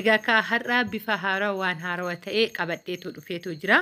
Egaa kaa har'aa bifa haarawa waan haarawa ta'e qabadheetu dhufeetu jira.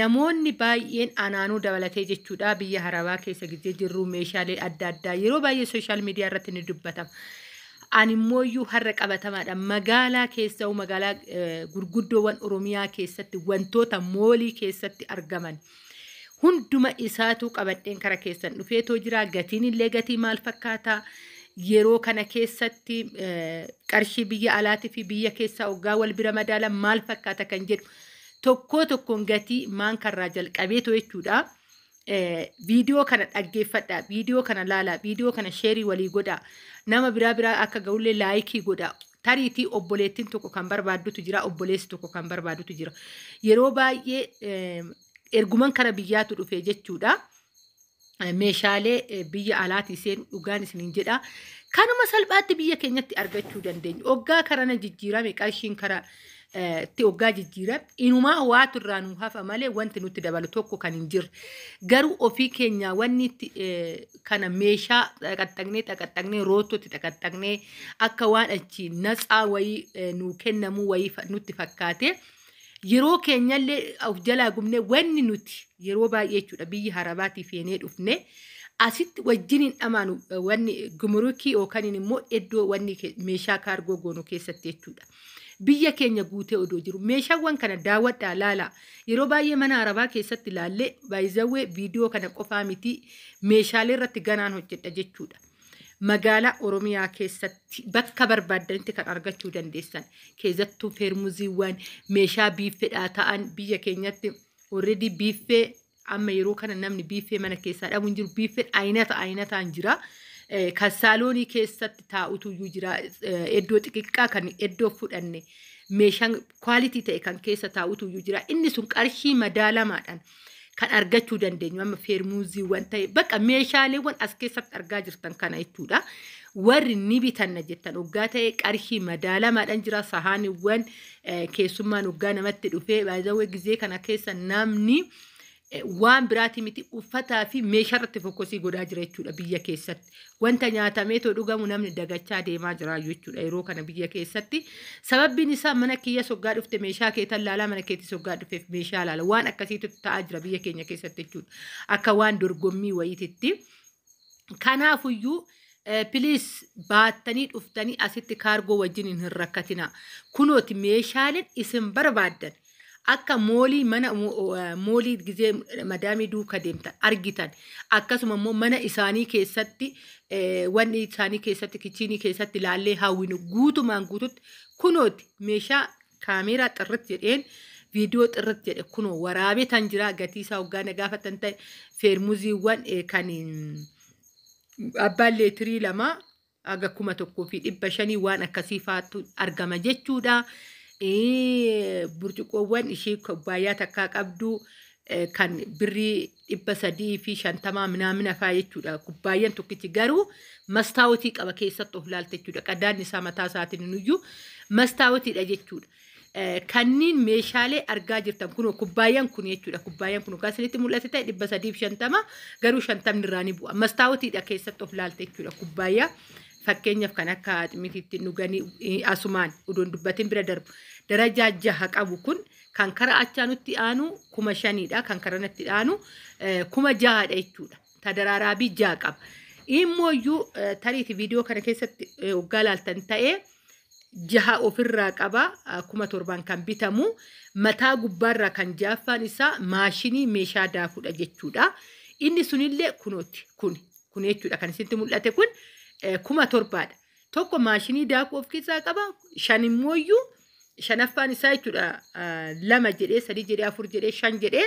Namoonni baay'een anaanuu dabalatee jechuudha biyya harabaa keessa gijjee jirru meeshaalee adda addaa yeroo baay'ee sooshaal miidiyaa irratti ni dubbatama. Ani immoo iyyuu har'a qabatamaadha. Magaalaa keessa'u magaalaa gurguddoowwan Oromiyaa keessatti wantoota moolii keessatti argaman. hunduma isaatuu qabadheen kara keessan dhufeetoo jira gatiin illee gatii maal fakkaataa yeroo kana keessatti qarshii biyya alaatii fi biyya keessaa oggaa wal bira madaalan maal fakkaata kan jedhu tokkoo tokkoon gatii maan karraa jalqabeetu jechuudha. Viidiyoo kana dhaggeeffadhaa, viidiyoo kana laalaa, viidiyoo kana sheerii walii godhaa, nama biraa biraa akka ga'ullee laayikii godhaa. Tariitii obboleettiin tokko kan barbaaddutu jira, obboleessi tokko kan barbaaddutu jira. Yeroo baay'ee eh, erguman kara biyyaatu dhufe jechuudha. Eh, Meeshaalee eh, biyya alaatii seenu dhugaan isiniin jedha. Kanuma salphaatti biyya keenyatti argachuu dandeenya. Oggaa karana jijjiirame qarshiin kara itti oggaa jijjiiran inumaa waatu irraa nuu hafa malee wanti nutti dabalu tokko kan hin jirre garuu ofii keenyaa wanni itti kana meeshaa xaqaxaqnee xaqaxaqnee roottootti xaqaxaqnee akka waan achi natsaa wayii nuu kennamuu wayii nutti fakkaate yeroo keenyallee of jalaa gubnee wanni nuti yeroo baay'ee jechuudha biyya harabaatii feenee dhufne asitti wajjin hin dhamaanu wanni gumurukii yookaan immoo iddoo wanni meeshaa kaargoo goonu keessatti jechuudha. biyya keenya guutee odoo jiru meeshaawwan kana daawwadhaa laalaa yeroo baay'ee mana arabaa keessatti laallee baay'izawwee viidiyoo kana qofaa mitii meeshaalee irratti ganaan hojjedha jechuudha. Magaalaa Oromiyaa keessatti bakka barbaaddanitti kan argachuu dandeessan keessattuu feermuziiwwan meeshaa biiffedhaa ta'an biyya keenyatti already biiffee Amma yeroo kana namni biiffee mana keessaa dhabu hin jiru. Biiffeen aynata aynataan jira. Eh, Kan saaloonii keessatti taa'utu iyyuu jira. Eh, Iddoo xixiqqaa kan iddoo fudhanne meeshaan kwaalitii ta'e kan keessa taa'utu iyyuu jira. Inni sun qarshii madaalamaadhaan kan argachuu dandeenyu amma feermuuziiwwan ta'e bakka meeshaaleewwan as keessatti argaa jirtan kana jechuudha. Warri ni bitanna jettan oggaa ta'e qarshii madaalamaadhaan jira sahaaniiwwan keessummaan hoggaa namatti dhufee baay'ee gizee kana keessa namni eh, waan biraati miti uffataa fi meeshaa irratti fokkosii godhaa jira jechuudha biyya keessatti. Wanta nyaatamee too dhugamu namni dagachaa deemaa jira jechuudha yeroo kana biyya keessatti. Sababbiin isaa mana kiyya soggaa dhufte meeshaa kee tan laalaa mana keetti soggaa dhufeef meeshaa laala. Waan akkasiitu ta'aa jira biyya keenya keessatti jechuudha. Akka waan dorgommii wayiititti. Kanaafuyyuu piliis baattanii dhuftanii asitti kaargoo wajjin hin rakkatinaa. Kunooti meeshaaleen isin barbaaddan akka moolii mana moolii gizee madaamii duuka deemtan argitan akkasuma immoo mana isaanii keessatti wanni isaanii keessatti kichiinii keessatti ilaallee hawwinu guutumaan guututti kunooti meeshaa kaameeraa xirrit jedheen viidiyoo xirrit jedhe kunoo waraabee tan jiraa gatii isaa hoggaa na gaafatan ta'e feermuziiwwan eh, kan mm, abbaan leetirii lama haga kuma tokkoo fi dhibba shanii waan akkasii faatu argama jechuudha. Eh, Burcuqqoowwan ishee kubbaayyaa takkaa qabdu eh, kan birrii dhibba sadii fi shantamaa minaamina faa jechuudha kubbaayyan tokkichi garuu mastaawotii qaba keessatti of laalte jechuudha qadaadni isaa mataa isaatiin nuyyuu mastaawotiidha jechuudha. Eh, Kanniin meeshaalee argaa jirtan kun kubbaayyan kun jechuudha kubbaayyan kun kan isinitti mul'ate ta'e dhibba sadii fi shantama garuu shantamni irraa ni bu'a mastaawotiidha keessatti of laalte jechuudha kubbaayyaa fakkeenyaaf kan akka axmitiitti dhuganii eh, asumaan uduun dubbatiin bira darbu darajaa jaha qabu kun Kan kara achaa nutti aanu kuma shaniidha. Kan kara natti aanu kuma jahaadha jechuudha. Ta daraaraabii jaha qaba. Immooyyuu tariiti viidiyoo kana keessatti waggaa laaltan ta'ee jaha ofirraa qaba kuma torbaan kan bitamu mataa gubbaarraa kan jaaffaan isaa maashinii meeshaa daakudha jechuudha. Inni sunillee kunooti kun kun jechuudha kan isinitti mul'ate kun kuma torbaadha. tokko maashinii daakuu of keessaa qaba shan immooyyuu shanaffaan isaa jechuudha ah, lama jedhee sadii jedhee afur jedhee shan jedhee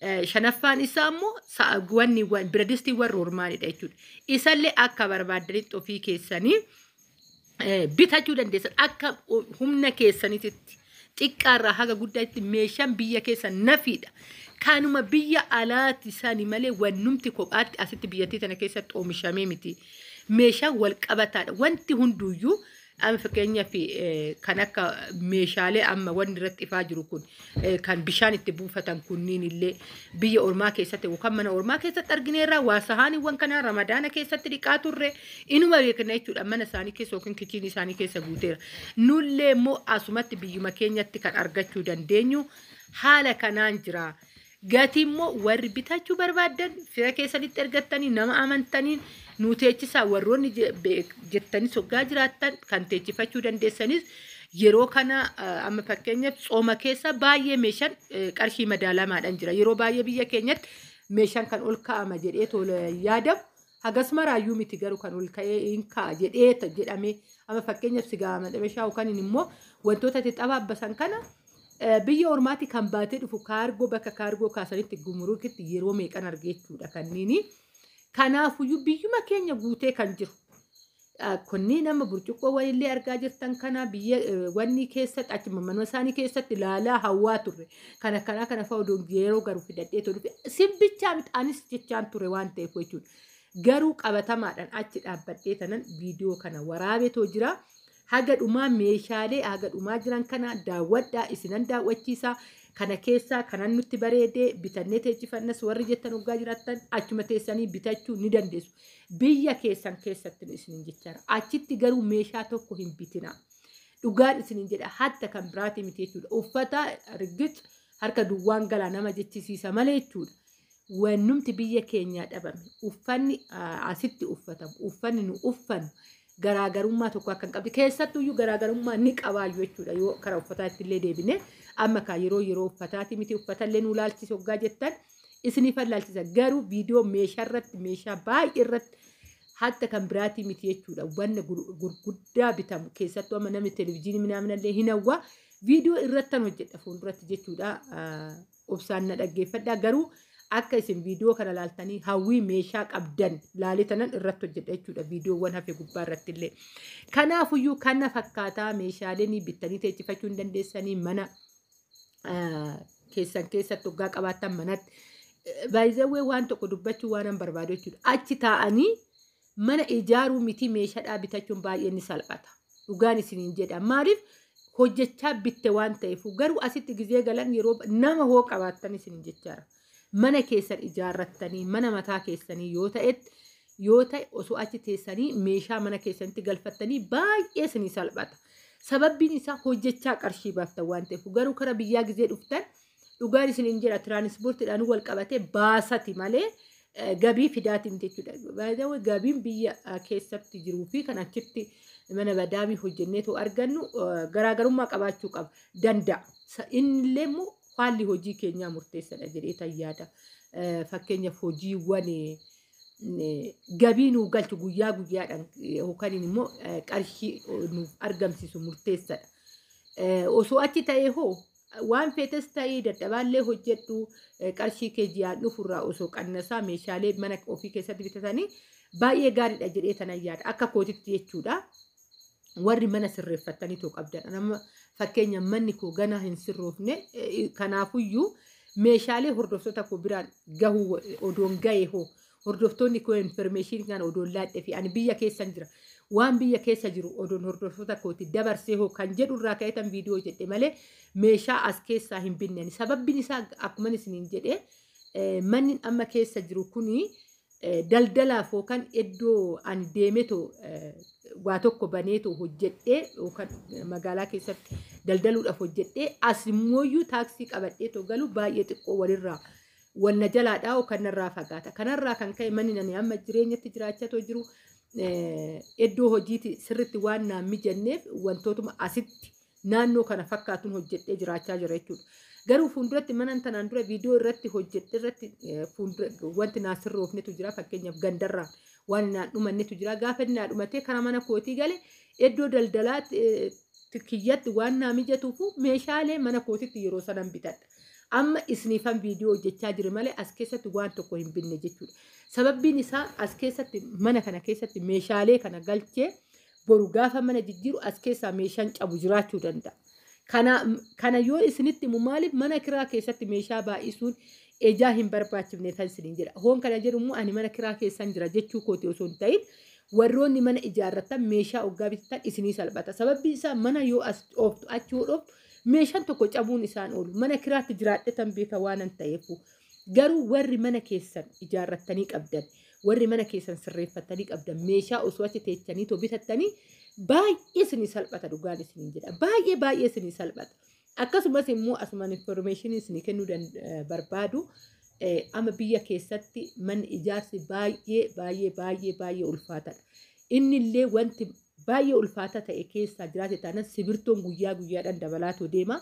eh, shanaffaan isaa immoo sa'a guwanni wan- biradistiiwwan roormaanidha jechuudha isallee akka barbaaddanitti ofii keessanii eh, bitachuu dandeessan akka o- humna keessaniititti xiqqaarraa haga guddaatti meeshaan biyya keessa nafiidha. Kanuma biyya alaati sani malee wannumti kophaatti asitti biyyattii tana keessatti oomishamee miti. Meeshaan wal qabataadha. Wanti hunduuyyuu amma fakkeenyaaf kan akka meeshaalee amma wanni irratti ifaa jiru kun kan bishaan itti buufatan kunniin illee biyya ormaa keessatti yookaan mana ormaa keessatti argineerra waa sahaaniiwwan kanaa ramadaana keessatti dhiqaa turre. Inuma beekna jechuudha mana isaanii keessa yookiin kichiinii isaanii keessa guuteera. Nullee immoo asumatti biyyuma keenyatti kan argachuu dandeenyu haala kanaan jira. Gatii immoo warri bitachuu barbaaddan fira keessanitti ergattanii nama amantaniin nu teechisaa warroonni je- be- jettanis hoggaa jiraattan kan teechifachuu dandeessanis yeroo kana eh, amma fakkeenyaaf tsooma keessa baay'ee meeshaan eh, qarshii madaalamaadhaan jira. Yeroo baay'ee biyya keenyatti meeshaan kan ol kaa'ama jedhee tola yaadamu Hagas maraayyuu miti garuu kan ol ka'ee hin ka'a jedheeta jedhamee amma fakkeenyaaf sigaa madhabashaa yookaan immoo wantoota itti xabaabbasan kana eh, biyya ormaatti kan baatee dhufu kaargoo bakka kaargoo kaasanitti gumuruukitti yeroo meeqan argeechuudha kanniini. Kanaafuyyuu biyyuma keenya guutee kan jiru Kunniin amma burcuqqoo wayillee argaa jirtan kana biyya wanni keessatti achuma manuma isaanii keessatti ilaalaa hawwaa turre. Kana kanaa kana fa'a oduun yeroo garu fidadhee tolu. Simbichaa miti anis jechaan ture waan ta'eef jechuudha. Garuu qabatamaadhaan achi dhaabbadhee tanan viidiyoo kana waraabetoo jira. Haga dhumaa meeshaalee haga dhumaa jiran kana daawwadhaa isinan daawwachiisa. Kana keessaa kanan nutti bareedee bitannee teechifannas warri jettan hoggaa jiraattan achuma teessanii bitachuu ni dandeessu. Biyya keessan keessattin isinin jechaara. Achitti garuu meeshaa tokko hin bitinaa. Dhugaan isinin jedha hatta kan biraatii miti jechuudha. Uffata riggix harka duwwaan galaa nama jechisiisa malee jechuudha. Wannumti biyya keenyaa dhabame uffanni asitti uffatamu uffanni nu uffannu garaagarummaa tokko akka hin qabne keessattuu iyyuu garaagarummaa ni qabaayyu jechuudha yoo kara uffataatti illee deebine amma kaa yeroo yeroo uffataati miti uffatallee nu laalchisa hoggaa jettan isiniifan laalchisa garuu viidiyoo meeshaa irratti meeshaa baay'ee irratti hatta kan biraatii miti jechuudha wanna gur- gurguddaa bitamu keessattuu amma namni televizyiinii minaaminallee hin hawwa viidiyoo irrattan hojjedha fuulduratti jechuudha Ah, obsaan na dhaggeeffadhaa garuu akka isin viidiyoo kana laaltanii hawwii meeshaa qabdan laalee tanan irratti hojjedha jechuudha viidiyoowwan hafe gubbaa irratti illee. Kanaafuyyuu kana fakkaataa meeshaaleen bittanii teechifachuu hin dandeessanii mana ah, keessan keessatti hoggaa qabaattan manatti. Baay'izawwee waan tokko dubbachuu waan barbaadu jechuudha. Achi taa'anii Mana ijaaruu mitii meeshadhaa bitachuun baay'ee ni salphata. Dhugaan isiniin jedha. Maaliif hojjechaa bitte waan ta'eef garuu asitti gizee galan yeroo nama hoo qabaattan isiniin jechaara. Mana keessan ijaarrattanii mana mataa keessanii yoo ta'etti yoo ta'e osoo achi teessanii meeshaa mana keessanitti galfattanii baay'ee isinii salphata. Sababbiin isaa hojjechaa qarshii baaftan waan ta'eef garuu kara biyyaa gizee dhuftan Dhugaan isiniin jedha tiraanispoortiidhaan wal qabatee baasati malee eh, gabii fidaatiin jechuudha. Baay'ee gabiin biyya eh, keessatti jiruu fi kan achitti mana badaamii hojjenneetu argannu eh, garaagarummaa qabaachuu qaba danda'a. Sa- Innillee immoo haalli hojii keenyaa murteessadha jedhee tan yaada. Eh, Fakkeenyaaf hojiiwwan eh, eh, gabii nuu galchu guyyaa guyyaadhaan eh, yookaan immoo eh, qarshii eh, nuuf argamsiisu murteessadha. Eh, osoo achi ta'ee hoo Waan feetes ta'ii dadhabaallee hojjedhu qarshii kee ji'aan dhufu irraa osoo qannasaa meeshaalee mana ofii keessatti bitatanii baay'ee gaariidha jedhee tanan yaada. Akka kootitti jechuudha. Warri mana sirreeffattanii too qabdan. Nama fakkeenya manni koo ganaa hin sirroofne kanaafuyyuu meeshaalee hordoftoota koo biraan gahuu odoon gahee hoo Hordoftoonni koo information kan odoon laadhe fi ani biyya keessan jira. Waan biyya keessa jiru odoon hordoftoota kooti dabarsee hoo kan jedhu irraa ka'eetan viidiyoo jedhe malee meeshaa as keessaa hin binne. Ani Sababbiin isaa akkuma isiniin jedhe eh, manni amma keessa jiru kuni eh, daldalaaf yookaan iddoo ani deemetoo eh, waa tokko baneetoo hojjedhee yookaan eh, magaalaa keessatti daldaluudhaaf hojjedhee as immooyyuu taaksii qabadheetoo galu baay'ee xiqqoo walirraa Wal na jalaa dhaa'u kan narraa fagaata. Kanarraa kan ka'e manni nani amma jireenyatti jiraachatoo jiru iddoo hojiiti sirritti waan naan mijanneef wantootuma asitti naannoo kana fakkaatuun hojjedhee jiraachaa jira jechuudha. Garuu fuulduratti manan tanaan dura viidiyoo irratti hojjedhe irratti wanti naa sirroofnetu jira fakkeenyaaf gandarraa waan naa dhumannetu jira gaafa inni naa dhumatee karaa mana kootii gale iddoo daldalaa kiyyatti waan naa mijatuufu meeshaalee mana kootitti yeroo sanan bitadha. Amma isiniifan viidiyoo hojjechaa jire malee as keessatti waan tokko hin binne jechuudha. Sababbiin isaa as keessatti mana kana keessatti meeshaalee kana galchee boru gaafa mana jijjiiru as keessaa meeshaan cabu jiraachuu danda'a. Kana, kana yoo isinitti himu maaliif mana kiraa keessatti meeshaa baay'isuun ejaa hin barbaachifne kan isiniin jedha. Hoon kana jedhu immoo ani mana kiraa keessan jira jechuu kooti osoo hin ta'in warroonni mana ijaarratan meeshaa oggaa bitatan isinii salphata. Sababbiin isaa mana yoo as dhooftu achi yoo dhooftu Meeshaan tokko cabuun isaan oolu. Mana kiraatti jiraadhetan beeka waanan ta'eefu. Garuu warri mana keessan ijaarrattanii qabdan, warri mana keessan sirreeffattanii qabdan, meeshaa osoo achi teechanii too bitattanii baay'ee isinii salphata dhugaan isiniin jedha. Baay'ee baay'ee isinii salphata. Akkasumas immoo asumaan information isinii kennuu dan- eh, barbaadu eh, amma biyya keessatti manni ijaarsi baay'ee baay'ee baay'ee baay'ee ulfaatadha. Inni illee wanti baay'ee ulfaataa ta'e keessaa jiraate taanan sibirtoon guyyaa guyyaadhaan dabalaatoo deema.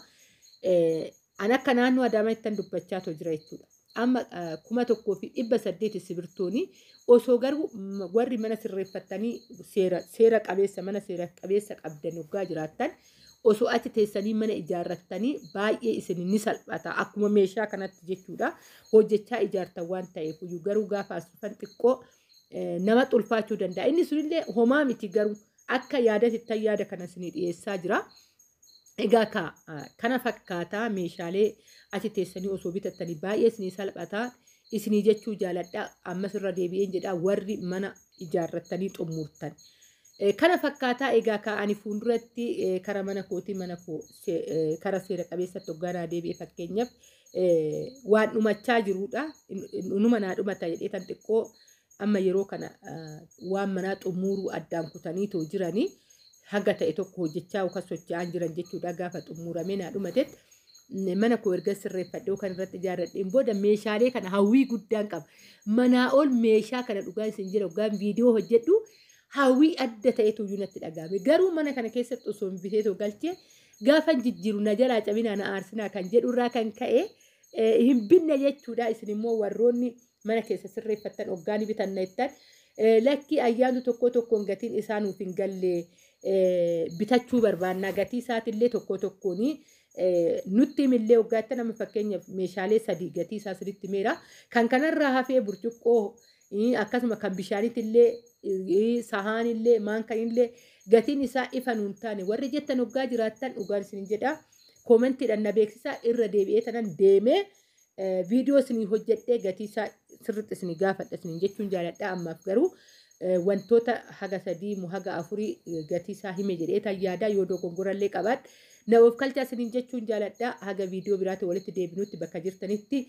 An akka naannoo Adaamaa ittan dubbachaa too jira jechuudha. Amma kuma tokkoo fi dhibba saddeeti sibirtooni osoo garuu warri mana sirreeffattanii seera seera qabeessa mana seera qabeessa qabdan oggaa jiraattan osoo achi teessanii mana ijaarrattanii baay'ee isin ni salphata akkuma meeshaa kanatti jechuudha hojjechaa ijaartan waan ta'eef garuu gaafa as dhufan xiqqoo namatti ulfaachuu danda'a. Inni sunillee homaa miti garuu akka yaadatti ittan yaada kana isinii dhiyeessaa jira. Egaa ka kana fakkaataa meeshaalee achi teessanii osoo bitattanii baay'ee isinii salphataa isinii jechuu jaaladha. Ammas irra deebi'een jedha warri mana ijaarrattanii xumurtan. Kana fakkaataa egaa ka ani fuulduratti kara mana kootii mana koo kara seera qabeessatti hoggaanaa deebi'e fakkeenyaaf waan dhumachaa jiruudha. Numa naa dhumata jedhee tan xiqqoo amma yeroo kana waan manaa xumuruu addaan kutanii too jiranii haga ta'e tokko hojjechaa yookaan socho'aan jiran jechuudha gaafa xumuramee naa dhumatetti. Mana koo erga sirreeffadhee yookaan irratti ijaarradheen booda meeshaalee kana hawwii guddaan qaba. Manaa ol meeshaa kana dhugaa isin jira yookaan viidiyoo hojjedhu hawwii adda ta'etu iyyuu natti dhaga'ame. Garuu mana kana keessatti osoo hin bitee too galchee Gaafan jijjiiru na jalaa cabinaa na aarsinaa kan jedhu irraa kan ka'e hin binne jechuudha. Isin immoo warroonni mana keessa sirreeffattan oggaa ni bitanna jettan lakkii ayyaantu tokkoo tokkoon gatiin isaa nuuf hin galle bitachuu barbaannaa gatii isaatiillee tokkoo tokkoon nutti himillee oggaa jettan amma fakkeenyaaf meeshaalee sadii gatii isaa sirriitti meera. Kan kanarraa hafee burcuqqoo Ii, akkasuma kan bishaaniitillee ii, sahaanillee maankanillee gatiin isaa ifa nuun taane warri jettan hoggaa jiraattan dhugaan isin jedha koomentiidhaan na beeksisaa irra deebi'ee tanan deemee eh, viidiyoo isinii hojjedhee gatii isaa sirriitti isinii gaafadha isiniin jechuun jaaladha ammaaf garuu eh, wantoota haga sadii moo haga afurii eh, gatii isaa hime jedhee tan yaadaa yoo dogongorallee qabaadhe na of kalchaa isiniin jechuun jaaladha haga viidiyoo biraatiin walitti deebinutti bakka jirtanitti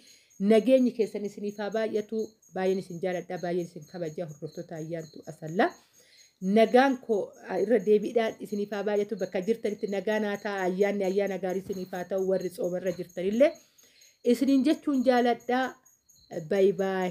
Nageenyi keessan isiniif haa baay'atu baay'een isin jaaladha baay'een isin kabaja hordoftoota ayyaantu asallaa nagaan koo irra deebiidhaan isiniif haa baay'atu bakka jirtanitti nagaan haa ta'a ayyaanni ayyaana gaarii isiniif haa ta'u warri soomarra jirtanillee isiniin jechuun jaaladha bayi baay.